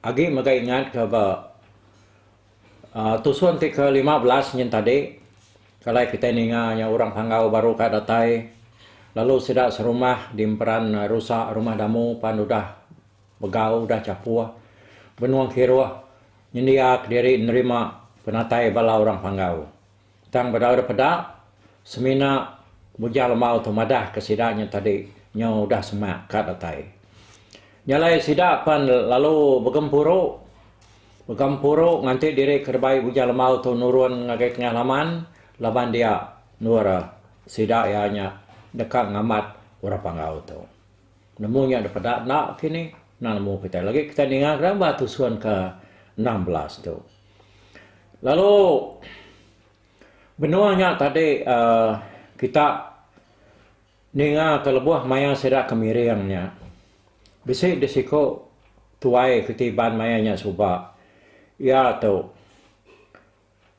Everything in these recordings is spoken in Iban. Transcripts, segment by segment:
Agi mega ingat ke ba tusun ti ke lima belas nyin tadi, kalai kitai ninga nya orang Panggau baru ka datai lalu sida serumah dimperan rusa rumah damu pan udah begau udah chapuh benung kiruh nyendia kediri nerima penatai bala orang Panggau. Tang bedauda peda, semina Bujang Lemau tu madahka sida nyau tadi nyau udah semak ka datai. Nya alai sida pan lalu begempuru begempuru nganti diri ke rebai Bujang Lemau tu nurun ngagai tengah laman laban dia endur sida iya nya deka ngamat orang Panggau tu. Nemu nya dipeda enda kini, enda nemu kitai lagi kitai ninga ke ba tusun ke enam belas tu. Lalu benung nya tadi uhh kita ninga ke lebuh mayar sida ke miring nya bisi deh siko tuai ti iban mayar nya suba iya tu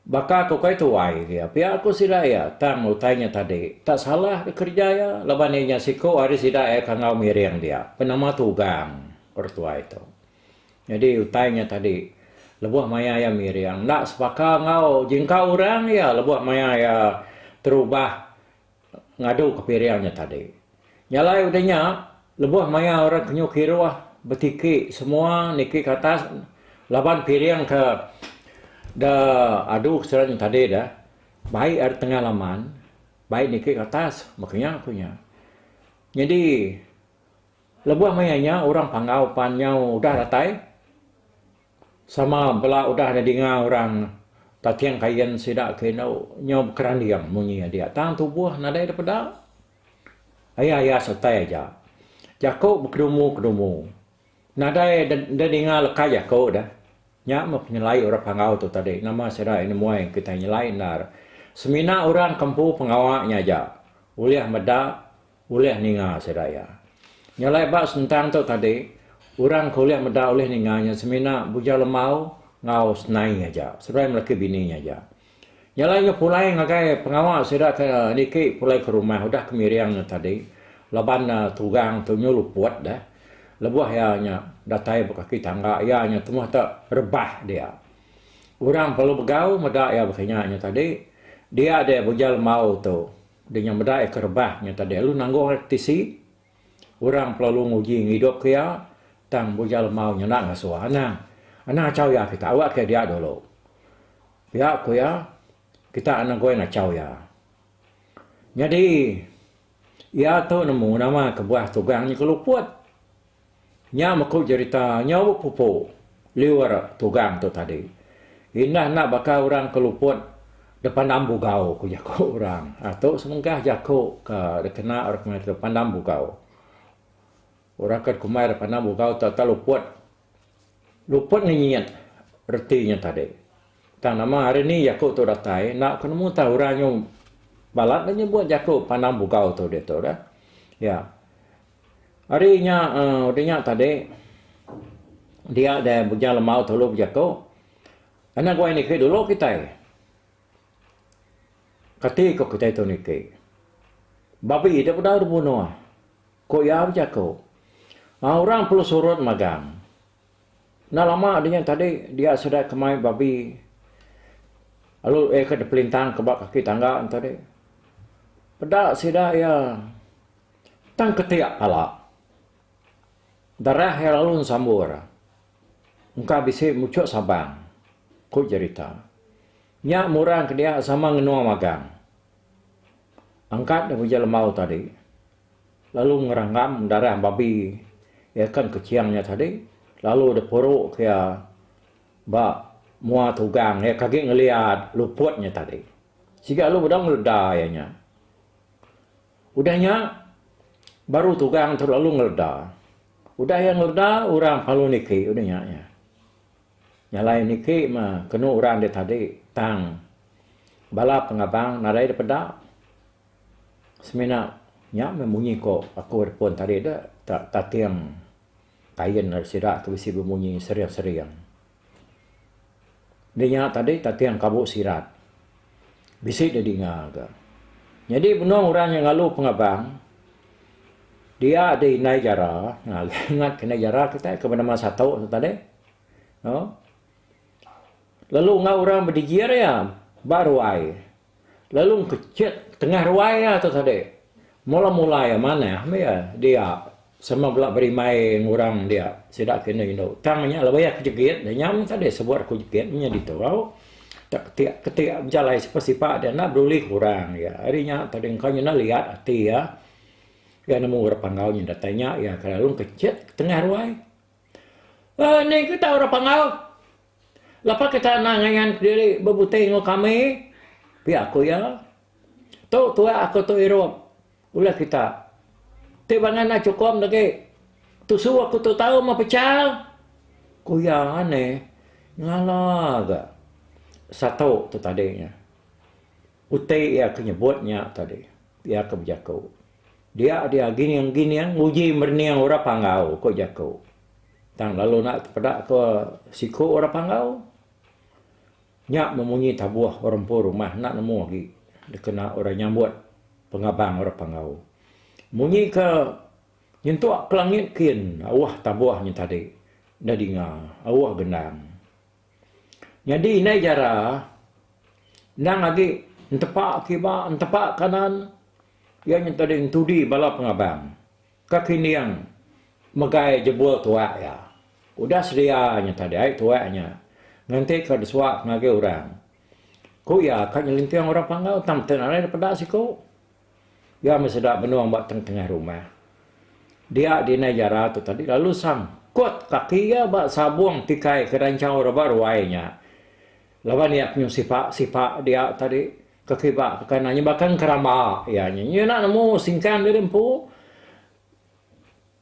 baka ko kai tuai dia pia ko sida iya tang utai nya tadi tak salah deh kerja iya laban iya nya siko ari sida iya ke enggau miring dia penama tugang orang tuai tu. Nyadi utai nya tadi lebuh maya iya miring enda sebaka enggau jingka orang iya lebuh maya iya terubah ngadu ke piring nya tadi. Nya alai udah nya lebuh maya orang kenyuh kiruh betiki semua niki ke atas laban piring ke da adu ke sida nya tadi dah baik ari tengah laman baik niki ke atas maka nya ku nya. Nyadi. Lebuh maya nya orang Panggau pan nyau udah datai sama bela udah nyedinga orang Taking Kayin sida ke indu nyau bekeranding munyi nya dia tang tubuh nadai da peda ai ayas utai aja jaku bekedumu-kedumu. Nadai da ninga leka jaku deh. Nya meh penyelai orang Panggau tu tadi nama sida nemuai kitai nyelai endar semina orang ke empu pengawa nya aja ulih meda. Ulih ninga sida iya. Nya alai ba sentang tu tadi, orang ke ulih meda ulih ninga nya semina Buja Lemau enggau Senai aja, seduai melaki bini nya aja. Nya alai nya pulai ngagai pengawa sida ke niki pulai ke rumah udah ke miring nya tadi laban tugang tu nyu luput deh. Lebuh iya nya datai ba kaki tangga iya nya temuh tu rebah dia. Orang perlu begau meda iya baka nya nya tadi dia deh Buja Lemau tu. Di nya meda iya ke rebah nya tadi lalu nanggung iya ke tisi. Orang kelalu nguji ngidup ke iya tang buja lemau nya enda ngasuh anang. Anang achau iya kita awak ke dia dulu. Pia ku iya kita enda goi ngachau iya. Nyadi iya tu nemu nama kebuah tugang nya ke luput. Nya meku jerita nyau pupu liur tugang tu tadi. Indah enda baka orang ke luput depandam bugau ku jaku orang. Tu semengkah jaku ke dikena orang kitai depandam bugau. Orang ke dikumbai depandam bugau tu enda luput. Luput ngenyit reti nya tadi. Tang nama hari ni jaku tu datai enda ku nemu tau orang nyau balat dah nyebut jaku pandam bugau tu ditu dah. Iya. Ari nya ari nya tadi dia deh bujang lembau tulu bejaku anak guai niki dulu kitai. Kati ko kitai tu niki. Babi deh bedau dibunuh ko iya bejaku. Aaa orang perlu surut magang. Enda lama ari nya tadi dia sida ke mai babi lalu iya ke dipelintang ka ba kaki tangga tadi peda sida iya. Tang ketiak kala, darah iya lalu ensambur engka bisi muchuk sabang, ku jerita. Nya murang ke dia sama ngenua magang angkat daripada Jelembau tadi lalu ngeranggam darah babi iya ken keching nya tadi lalu dipuruk iya ba mua tugang iya ke agi ngeliat luput nya tadi. Siga lalu bedau ngeleda iya nya. Udah nya, baru Tugang tu lalu ngeleda. Udah iya ngeleda, orang palu niki udah nya iya. Nyalai niki mah kenu orang dek tadi, tang bala pengabang nadai dek peda semina nya meh munyi ko aku dek pun tadi dek, tating kain sida tu bisi bemunyi sering-sering. Nya nya tadi tating kabu sirat. Bisi da dinga ga. Nyadi benung orang nya ngalu pengabang dia da indai jara ngat ke indai jara kitai ke benama satu tu tadi uhh lalu enggau orang bedijir iya ba ruai. Lalu engkechet tengah ruai iya tu tadi. Mula-mula iya manah meh iya dia sama bela berimai enggau orang dia sida ke indu-indu. Tang nya lebuh iya kejegit nya nyam tadi sebut aku jegit meh nya ditu au. Tak ketik-ketik bejalai sipa-sipa dia enda peduli ke orang iya. Ari nya tadi engka nyinah liat ati iya. Iya nemu orang Panggau nya datai nya iya kelalu engkechet tengah ruai. Eni ke tau orang Panggau. Lapa kita enda ngayan kediri bebuti enggau kami? Pia ku iya. Tu tuak aku tu irup ulah kita. Ti bangai enda chukup enda agi. Tusu aku tu tau meh pecha, ku iya ani ngala ga satu tu tadi nya. Uti iya ke nyebut nya tadi. Iya ke bejaku, Dia dia gining gining nguji merening orang panggau, ku jaku. Tang lalu enda tepeda ke siku orang Panggau. Nya memunyi tabuh orang empu rumah enda nemu agi dikena orang nyambut pengabang orang Panggau. Munyi ke nyentuk ke langit kin auh tabuh nya tadi enda dinga auh gendang. Nyadi indai jara endang agi entepa kiba entepa kanan iya nya tadi entudi bala pengabang. Ka Kining megai jebul tuak iya. Udah sedia nya tadi ai tuak nya ngentika disuak ngagai orang. Ku iya ka nyelinting orang panggau tang meti nadai da peda siku. Iya meh seda benung ba tengah-tengah rumah. Dia dinai jara tu tadi lalu sangkut kaki iya ba sabung tikai ke ranchau rebak ruai nya. Laban iya penyu sipak sipak dia tadi ke kiba ke kana nyebakang keramba iya nya. Iya enda nemu singkang diri empu.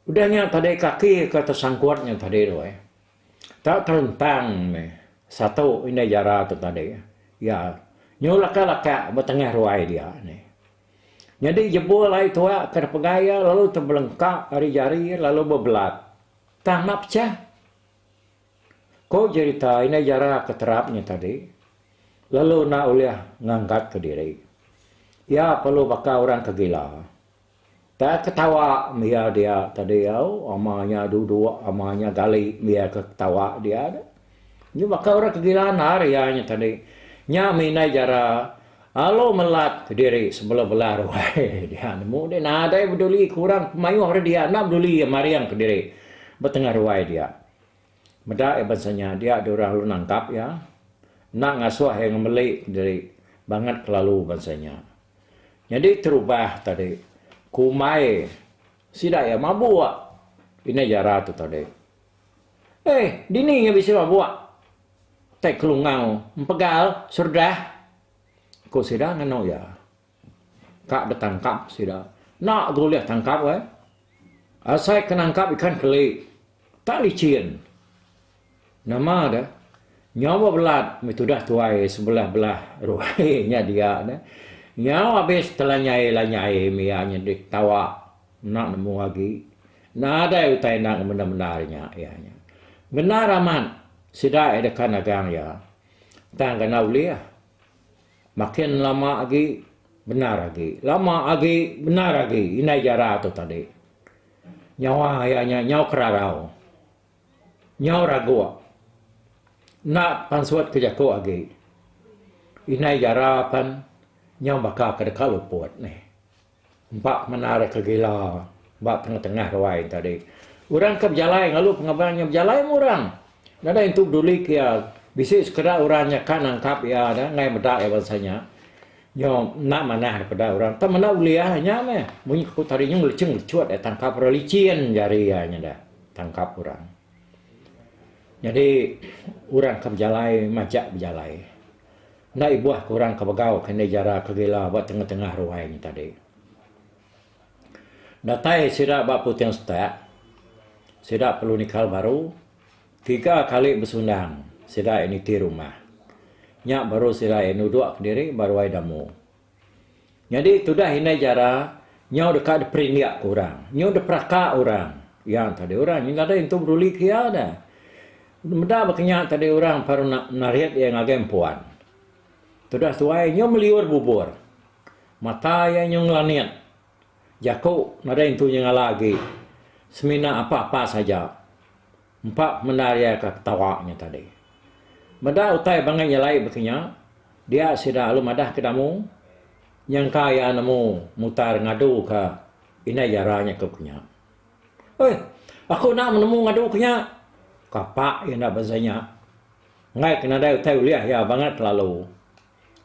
Udah nya tadi kaki ke tesangkut nya tadi tu ai. Tau terentang meh satu indai jara tu tadi. Iya nyu laka laka ba tengah ruai dia ni. Nyadi jebul ai tua ke dipegai iya lalu tebelengka ari jari lalu bebelat. Tang enda pecah. Ko jerita indai jara ke terap nya tadi, lalu enda ulih ngangkatka diri. Iya perlu baka orang ke gila. Tang ketawa mia dia tadi au, ama nya duduk ama nya gali mia ke ketawa dia tu. Nya baka orang ke gila andar iya nya tadi. Nya mih indai jara. Alu melat diri sebela bela ruai dia nemu deh nadai beduli ke orang ke mayuh ari dia enda beduli iya maring ke diri ba tengah ruai dia. Meda iya bansa nya dia dua orang lalu nangkap iya enda ngasuh iya ngemeli ke diri bangat kelalu bansa nya. Nyadi terubah tadi kumbai sida iya mabuk indai jara tu tadi. Eh, dini iya bisi ba buak tai kelungau empegal serdah? ku sida nganu iya. Ka betangkap sida. Enda ga ulih tangkap weh. Asai ke nangkap ikan keli. Tak licin. Nama deh, nyau bebelat meh tudah tuai sebelah-belah ruai nya dia deh. Nyau abis telanyai-lanyai meh iya nyedih ketawa. Enda nemu agi. Nadai utai enda ngemendar-mendar nya iya nya. Bendar amat sida iya deka nagang iya. Tang ga enda ulih. Makin lama agi bendar agi. Lama agi bendar agi indai jara tu tadi. Nyawa iya nya nyau kerarau. Nyau raguk. Enda pansut ke jaku agi. Indai jara pen nyau baka ke deka luput nih. Ba menara ke gila ba tengah-tengah ruai enti tadi. Orang ke bejalai ngalu pengaban nya bejalai meh orang. Nadai intu bedulik iya. Bisi sekeda orang nya ka nangkap iya dah enggai meda iya bansa nya. Nyo enda manah deh peda orang tang menda ulih nya meh. Munyi ku tadi nya ngelecheng lechuh deh tangkap orang lichin jari iya nya deh tangkap orang. Nyadi orang ke bejalai majak bejalai. Enda ibuh ke orang ke begau ke indai jara ke gila ba tengah-tengah ruai nya tadi. Datai sida ba puting setak, sida perlu nikal baru tiga kali besundang sida niti rumah. Nya baru sida nuduk kediri ba ruai Damu. Nyadi tudah indai jara nyau deka diperindik ke orang, nyau diperaka orang. Iya tadi orang nyau nadai nentu peduli ke iya dah. Meda baka nya tadi orang baru nak narit iya ngagai empuan. Tudah tuai nyau meliur bubur. Mata iya nyau ngelanit. Jaku nadai nentu nyengala agi. Semina apa-apa saja. Empa mendar iya ka ketawa nya tadi. Meda utai bangai nya alai baka nya, dia sida alu madah ke Damu nyangka iya nemu mutar ngadu ka indai jara nya ke nya. Oi, aku enda menemu ngadu ke nya! Kapa iya enda beza nya. Enggai ke nadai utai ulih iya bangat lalu.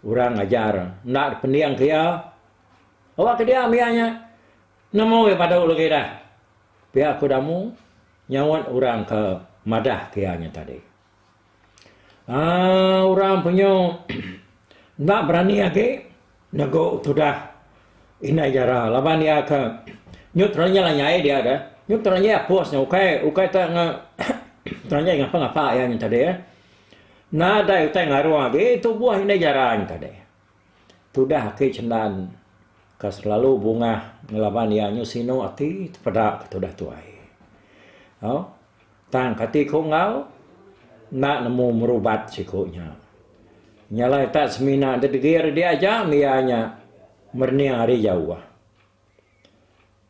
Orang ngajar enda dipending ke iya. Awak ke diam iya nya nemu iya padu lagi dah pia ku Damu. Nyaut orang ke madah ke iya nya tadi. Aa orang penyu enda berani agi negu tudah indai jara laban iya ke nyu terenyah iya nyai dia ke nyu terenyah apus nya ukai ukai te nge terenyah ngapa-ngapa iya nya tadi. Nadai utai ngaruh agi tubuh indai jara nya tadi. Tudah ati cendan ka selalu bungah ngelaban iya nyu sinu ati tepeda ka tudah tuai. Au tang kati ku enggau enda nemu merubat siku nya. Nya alai tak semina degir diaja mih iya nya merening ari jauh.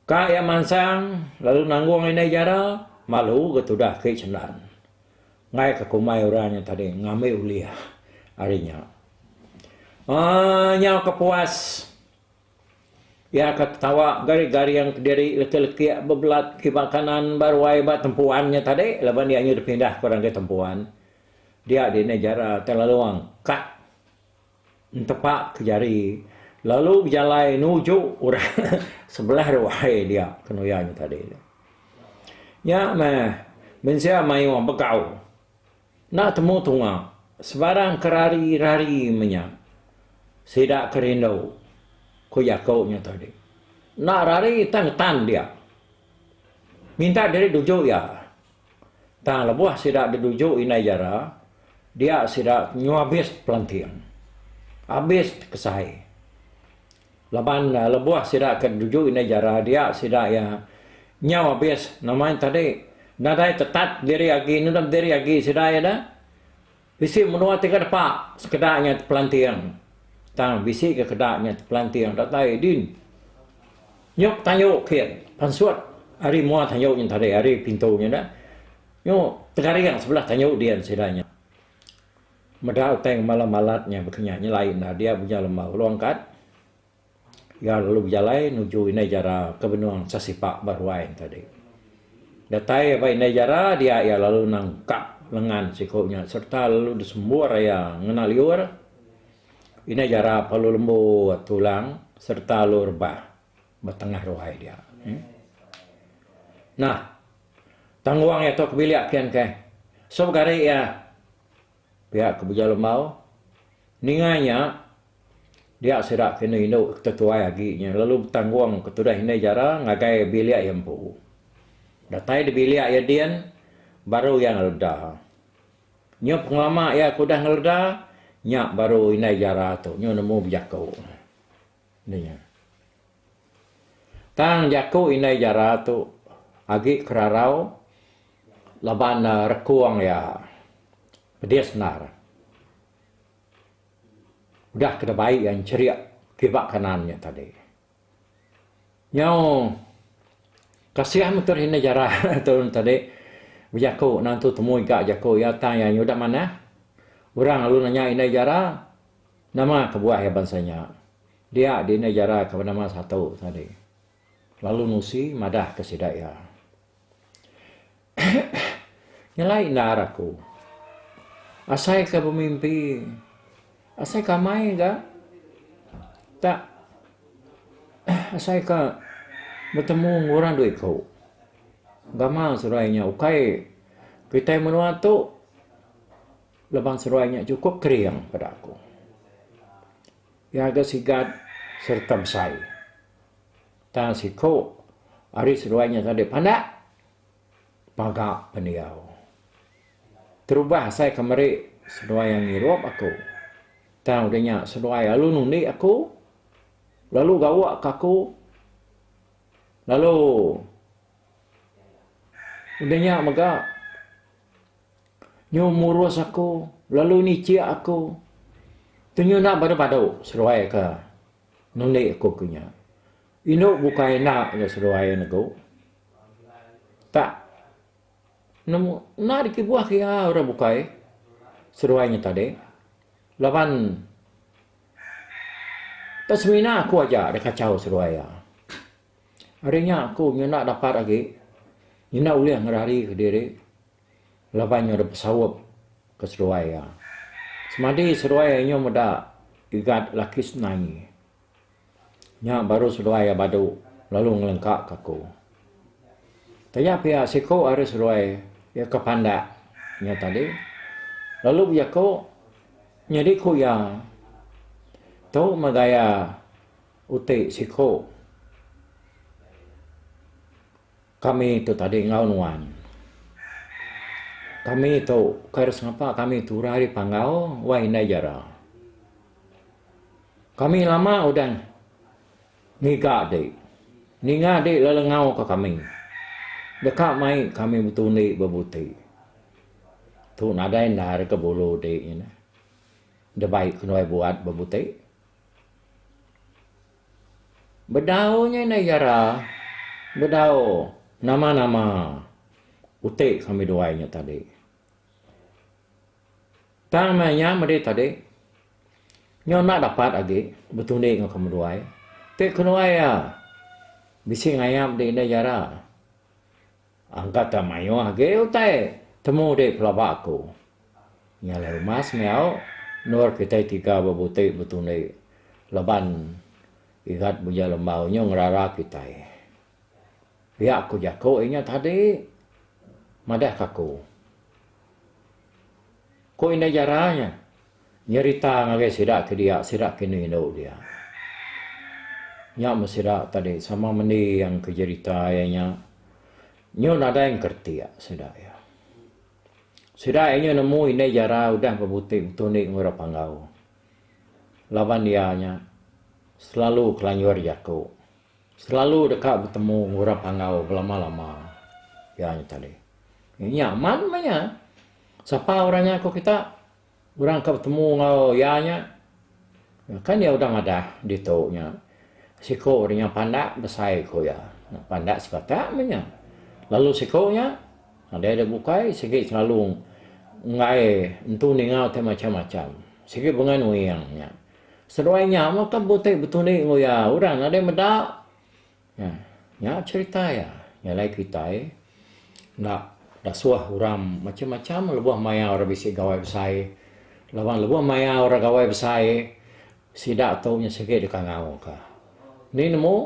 Ka iya mansang lalu nanggung indai jara, malu ga tudah ke cendan. Enggai ka kumbai orang nya tadi ngambi ulih ari nya. Aaa nyau ka puas iya ka ketawa garing-garing kediri lekik-lekik bebelat kiba kanan ba ruai ba tempuan nya tadi laban iya nya dipindah ke orang ke tempuan. Dia di indai jara Telalong, cut. Entepak ke jari, lalu bejalai nuju orang sebelah ruai dia ke nuya nya tadi. Nya meh, mensia mayuh begau. Enda temu tunga, sebarang ke rari-rari meh nya. Sida ke rindu, ku jaku nya tadi. Enda rari tang getan dia. Minta diri nuju iya. Tang lebuh sida deduju indai jara, dia sida nyuabis pelanting. Abis kesai. Laban lebuh sida ke deduju indai jara dia sida iya nyau abis nama nya tadi nadai tetat diri agi, nedep diri agi sida iya da. Bisi menua ti ka depa sekeda nya tepelanting tang bisi ke keda nya tepelanting datai din nyuk tanju kin pansut ari mua tanju nya tadi ari pintu nya dah nyu tegaring sebelah tanju din sida nya meda utai ngemala malat nya baka nya nyelai enda dia bunyi lembau long kat. Iya lalu bejalai nuju indai jara ke benung sasipak ba ruai ento adi. Datai iya ba indai jara dia iya lalu nangkap lengan siku nya serta lalu disembur iya ngena liur. Indai jara pa lalu lembut tulang serta lalu rebah ba tengah ruai dia. Nah, tanggung iya tu ke bilik pian kai. Sebegari iya. Pia ke Buja Lembau, ninga nya dia sida ke enda indu ke tetuai agi nya lalu betanggung ke tudah indai jara ngagai bilik iya empu. Datai di bilik iya din baru iya ngeleda. Nyu pengelama iya ke udah ngeleda nya baru indai jara tu nyu nemu bejaku. Nya. Tang jaku indai jara tu agi ke rarau laban rekung iya pedis endar. Udah ke dibai iya encherik kiba kanan nya tadi. Nyau kasih metoh indai jara tu tadi bejaku nang tu temui ga jaku iya tang iya nya udah manah. Orang lalu nanya indai jara. Nama kebuah iya bansa nya dia dindai jara ke benama satu tadi lalu nusi madah ke sida iya. Nyelai endar aku. Asai ke bemimpi asai ke amai ga tak asai ke betemu enggau orang dua iku. Gamal surai nya ukai kitai menua tu. Lebang seruai nya chukup kering peda aku. Ngaga sigat sereta besai. Tang siku ari seruai nya tadi pandak paga pendiau. Terubah asai ke meri seruai iya ngirup aku. Tang udah nya seruai lalu nundi aku, lalu gawa ke aku, lalu udah nya mega. Nyu murus aku, lalu nicik aku. Tu nyu enda badu-badu seduai ke nundi aku ke nya. Indu bukai enda ga seduai negu. Tak nemu enda dikibuh ke iya orang bukai seduai nya tadi laban tak semina aku aja da kachau seduai iya. Ari nya aku nyenda dapat agi nyenda ulih ngerarika diri laban nyau dep besaup ke seduai iya. Semadi seduai iya nyau meda Igat laki Semenanyi. Nya baru seduai iya badu lalu ngelengkaka aku. Taja pia siku ari seduai iya ke pandak nya tadi lalu bejaku nyadi ku iya tu meh gaya Uti siku kami tu tadi enggau nuan. Kami tu kai ras ngapa kami tu udah ari panggau wai indai jara. Kami lama udah ngiga di ninga di lalu enggau ka kami deka mai kami betundi bebuti. Tu nadai enda ari ke bulu di nyinah. Debai kenuai buat bebuti. Bedau nya indai Yara, bedau nama-nama uti kami duai nya tadi. Tang meh nya madi tadi, nya enda dapat agi betundi enggau kami duai. Ti keduai iya, bisi ngayap di indai Yara. Angka ka mayuh agi utai temu di pelaba aku. Nya alai uma semiau endur kitai tiga ba buti betundi laban Igat Buja Lembau nyu ngerara kitai. Pia ku jaku inya tadi madah ka aku. Ku Indai Jara nya. Nyerita ngagai sida ke dia, sida ke enda indu dia. Nya meh sida tadi sama mendi iya engka jerita iya nya. Nyu nadai engkeretik sida iya. Sida iya nyu nemu indai jara udah bebutik betundi enggau orang panggau. Laban iya nya selalu kelanjur jaku. Selalu deka betemu enggau orang panggau belama-lama. Iya nya tadi. Nya amat meh iya. Sapa orang nya ku kita? Orang ke betemu enggau iya nya kan iya udah madah ditu nya siku nya nyau pandak besai ku iya. Pandak sepatak meh nya. Lalu siku nya nadai dep bukai sigi selalu enggai entu ninga ti macam-macam. Sigi bengai nuing nya. Seduai nya meh ka beti betundi enggau iya. Orang nadai meda. Nah, nya cherita iya. Nya alai kitai enda dasuh orang macam-macam lebuh maya orang bisi gawai besai. Laban lebuh maya orang gawai besai, sida tu nya sigi dikangauka. Ni nemu,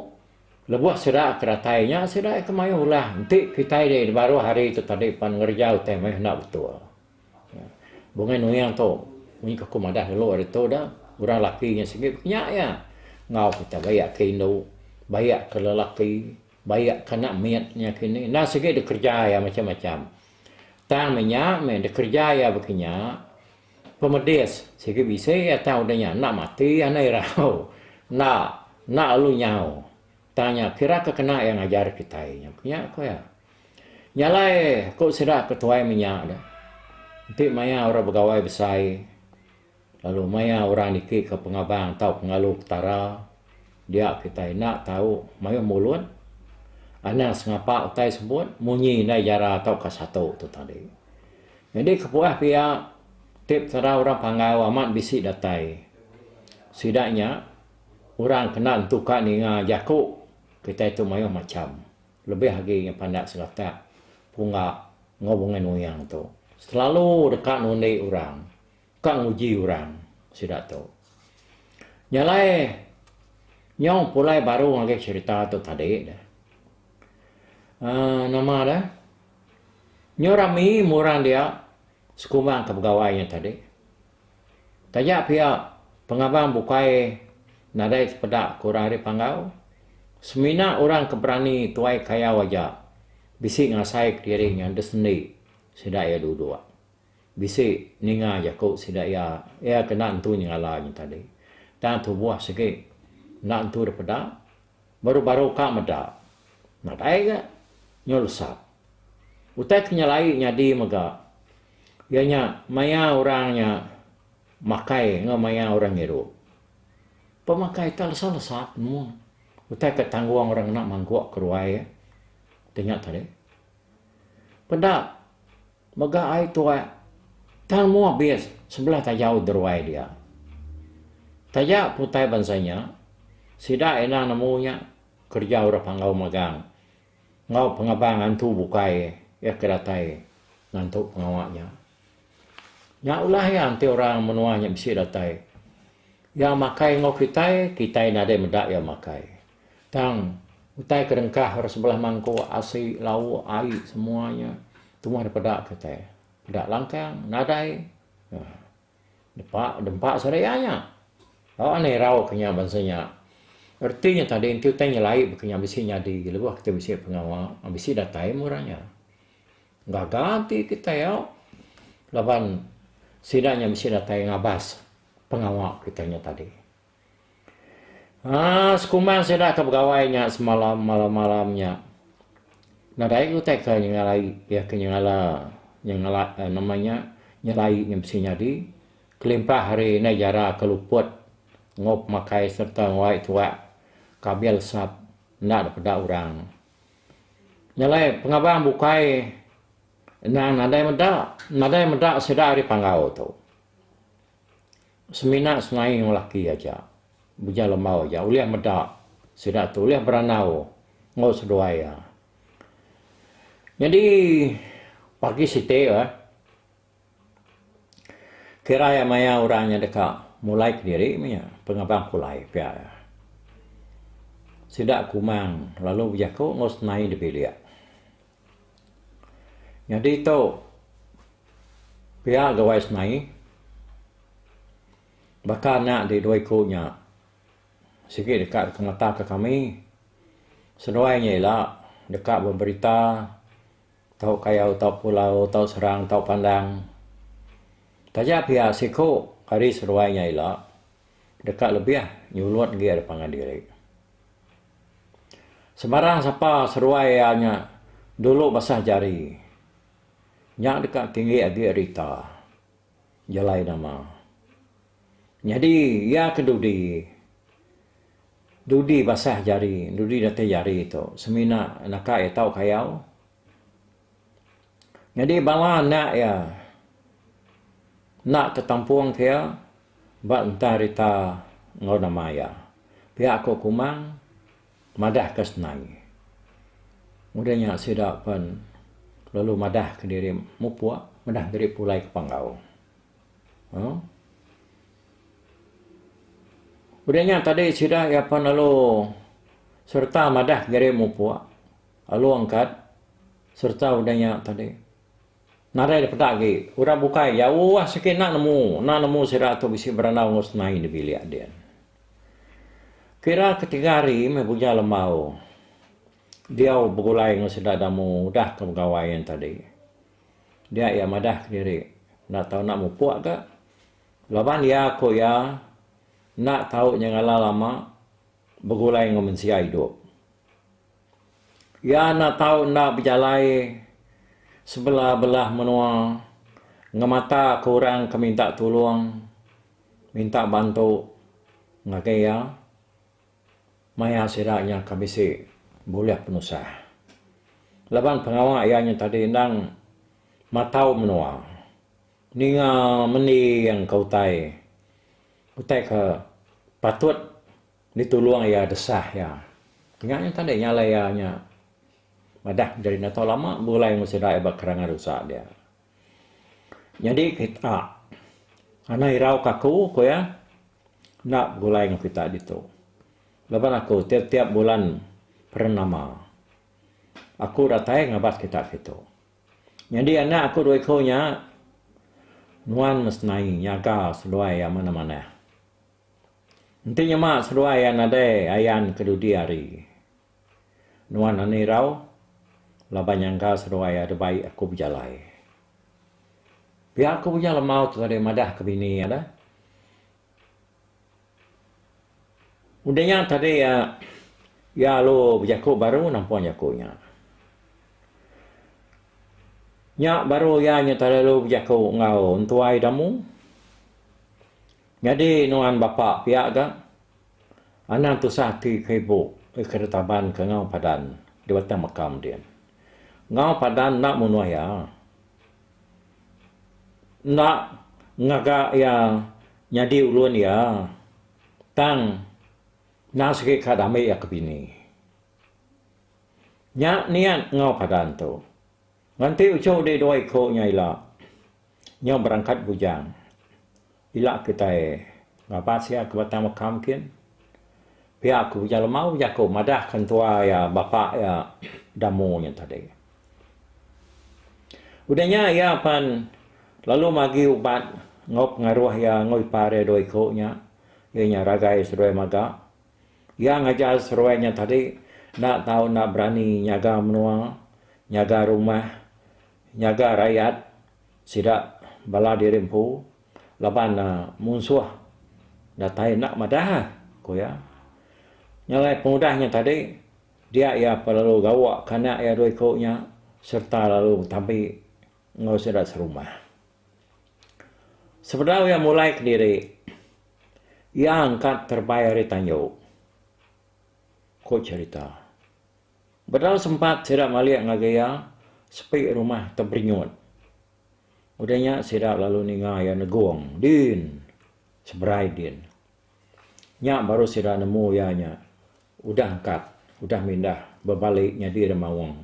lebuh sida ke datai nya, sida ke mayuh ulah. Enti kitai di baruh hari tu tadi pan ngereja utai meh enda betul. Bungai nuyang tu munyi ke aku madah dulu hari tu dah orang laki nya sigi nya iya enggau kita bayak ke indu bayak ke lelaki bayak ke anak mit nya kini enda sigi da kerja iya macam-macam tang meh nya meh da kerja iya baka nya pemedis sigi bisi iya tang udah nya enda mati anai irau enda enda lalu nyau Tanya, Kira ke kena iya ngajar kitai nya nya? ku iya. Nya alai ku sida ke tuai menya deh. Enti maya orang begawai besai lalu maya orang niki ke pengabang tau pengalu Petara, dia kitai enda tau mayuh mulut, anang sengapa utai sebut, munyi indai jara tauka satu tu tadi. Nyadi kepuah pia ti Petara orang Panggau amat bisi datai sida nya. Orang kena entuka ninga jaku kitai tu mayuh macham, lebih agi nya pandak seratak, pungga enggau bungan muyang tu selalu deka nundi orang, ka nguji orang sida tu. Nya alai nyau pulai baru ngagai cherita tu tadi dah. Aaa nama dah, nyau rami murang dia sekumbang ke pegawai nya tadi. Taja pia, pengabang bukai nadai sepeda ke orang ari Panggau. Semina orang ke berani tuai kayau aja bisi ngasaika diri nyanda sendi sida iya duduk. Bisi ninga jaku sida iya, iya ke enda entu nyengala nya tadi. Tang tubuh sigi enda entu dipeda. Baru-baru ka meda. Nadai ga. Nyul sat. Utai ke nyelai nyadi mega iya nya maya orang nya makai enggau maya orang ngirup. Pemakai tak lesa-lesa sat penemu. Utai ke tanggung orang ngena mangguk ke ruai iya. Ti nya tadi. Peda Mega ai tuak, tang mua bis sebelah tajau deruai dia. Taja ke utai bansa nya, sida enda nemu nya kereja orang panggau magang enggau pengaban ngantu bukai iya ke datai ngantu pengawa nya. Nya ulah iya enti orang menua nya bisi datai. Iya makai enggau kitai, kitai nadai meda iya makai. Tang, utai ke dengkah orang sebelah mangkuk, asi, lauk, ai semua nya tuah dep peda kitai. Peda langkang, nadai. Nah, depa dempa sida iya nya. Tau anang irau ke nya bansa nya. Reti nya tadi enti utai nyelai baka nya bisi nyadi lebuh kitai bisi pengawa, bisi datai mung orang nya. Gaga ati kitai au laban sida nya bisi datai ngabas pengawa kitai nya tadi. Haa sekumbang sida ke begawai nya semalam malam-malam nya nadai utai ke nyengalai iya ke nyengala nyengala nama nya nyelai nya bisi nyadi kelimpah ari indai jara ke luput enggau pemakai sereta wai tuak kabil sap enda dipeda orang. Nya alai pengabang bukai endang nadai meda nadai meda sida ari panggau tu. Semina senaing orang laki aja bejai lembau aja ulih meda sida tu ulih berandau enggau seduai iya. Nyadi pagi siti eh kira iya maya orang nya deka mulai kediri meh iya pengaban pulai pia iya. Sida kumang lalu bejaku enggau senaing di bilik. Nyadi tu pia gawai semai baka nya di dua iku nya sigi deka ngemataka kami seduai nya ila deka beberita tau kayau tau pulau tau serang tau pandang taja pia siku ari seduai nya ila deka lebih nyulut agi ari pangan diri. Sebarang sapa seruai iya nya dulu basah jari. Nya deka tinggi agi ari ita jalai nama. Nyadi iya ke dudi dudi basah jari, dudi datai jari tu semina naka iya tau kayau. Nyadi bala anak iya enda ke kampung ke iya ba entang rita enggau nama iya. Pia ku Kumang madah ke senang. Udah nya sida pen lalu madah ke diri mupok madah ke diri pulai ke Panggau. Uhh udah nya tadi sida iya pen lalu serta madah ke diri mupok. Alu angkat sereta udah nya tadi. Nadai dipeda agi, orang bukai jauh sikit enda nemu, enda nemu sida tu bisi berandau enggau senai di bilik din. Kira ke tiga hari meh Buja Lembau diau begulai enggau sida Damu udah ke begawai yen tadi. Dia iya madah kediri enda tau enda mupuk ga laban iya ku iya enda tau nyengala lama begulai enggau mensia idup. Iya enda tau enda bejalai sebela belah menua ngemataka orang ke minta tulung, minta bantu ngagai iya maya sida nya ke bisi bulih penusah. Laban pengawa iya nya tadi endang matau menua, ninga mending ke utai, utai ke patut. Ditulung iya desah iya. Nya nyen tadi nyalai iya nya madah menjadi enda tau lama begulai enggau sida iya ba kerangan rusa dia. Nyadi kita anang irauka aku, ku iya, enda begulai enggau kita ditu. Laban aku tiap-tiap bulan purnama aku datai ngabas kita kitu. Nyadi anak aku dua iku nya nuan mesti nyaga seduai iya manah-manah. Enti nyema seduai iya nadai ayan ke dudi hari. Nuan anak irau laban nyangka seduai iya da baik aku bejalai. Pia aku punya lemau tu ngagai madah ke bini iya dah. Udah nya tadi iya iya lalu bejaku baru nampung jaku nya. Nya baru iya nya telalu bejaku enggau entuai damu. Nyadi nuan bapa pia ga anang tusah ati ke ibu ke kada taban ke enggau padan di batang makam din. Enggau padan enda munuh iya. Enda ngaga iya nyadi ulun iya tang enda sigi ka dami iya ke bini. Nya niat enggau padan tu Nganti uchu dih dua iku nya ila. Nya berangkat bujang. Ila kitai ngabas iya ke batang meka mkin. Pia ku Bujang Lemau bejaku madahka entua iya bapa iya Damu nya tadi. Udah nya iya pan lalu magi ubat enggau pengaruh iya enggau ipar iya dua iku nya iya nya Ragai Seduai Maga Iya ngajar seruai nya tadi enda tau enda berani nyaga menua, nyaga rumah, nyaga rayat sida bala diri empu laban munsuh datai enda madah, ku iya. Nya alai pengudah nya tadi dia iya lalu gawa ke anak iya dua iku nya sereta lalu betampi enggau sida serumah. Sebedau iya mulai kediri, iya engka terebai ari tanju, ku cherita. Bedau sempat sida malik ngagai iya sepi rumah Teberinyut. Udah nya sida lalu ninga iya negong din seberai din. Nya baru sida nemu iya nya udah engkat udah mindah bebali nyadi demaung.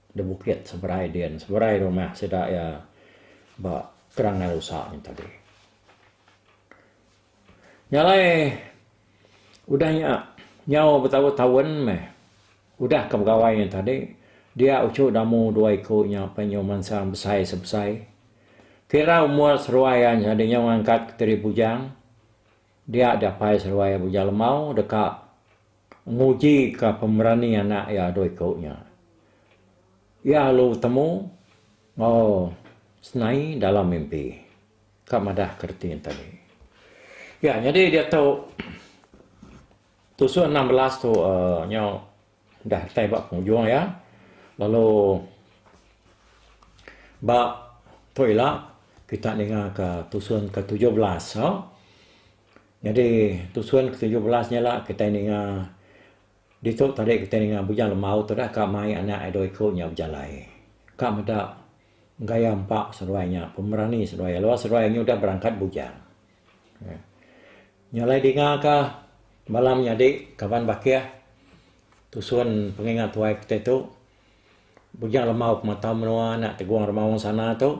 Di bukit seberai din seberai rumah sida iya ba Kerangal Usa nya tadi. Nya alai udah nya nyau betabu taun meh udah ka begawai nya tadi dia uchu damu dua iku nya pen nyau mansang besai sebesai kira umur seruai iya nya tadi nyau ngangkat ke Tiri Bujang dia diapai seruai iya Bujang Lemau deka Ngujika pemerani anak iya dua iku nya, iya alu betemu enggau Senai dalam mimpi. Ka madahka reti enti agi. Iya nyadi diatu tusuk enam belas tu uhh nyau udah datai ba pengujung iya lalu ba tu ila kita ninga ka tusuk ke tujuh belas tu. Nyadi tusun ke tujuh belas nya ila kitai ninga ditu tadi kitai ninga Bujang Lembau tu dah ka mai anak iya dua iku nya bejalai. Ka meda gaya empa seduai nya, pemerani seduai iya lalu seduai nya udah berangkat bujang. Nya alai dinga ka bala menyadi kaban bakih tusun pengingat tuai kitai tu Bujang Lembau Pematau Menua anak Tegong Remaung Sana tu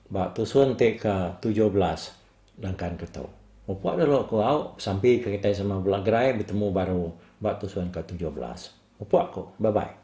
ba tusun ti ke tujuh belas. Langkan ke tu. Upok dulu aku au besampi ke kitai sama bela gerai betemu baru ba tusun ke tujuh belas. Upok ku. Bye bye.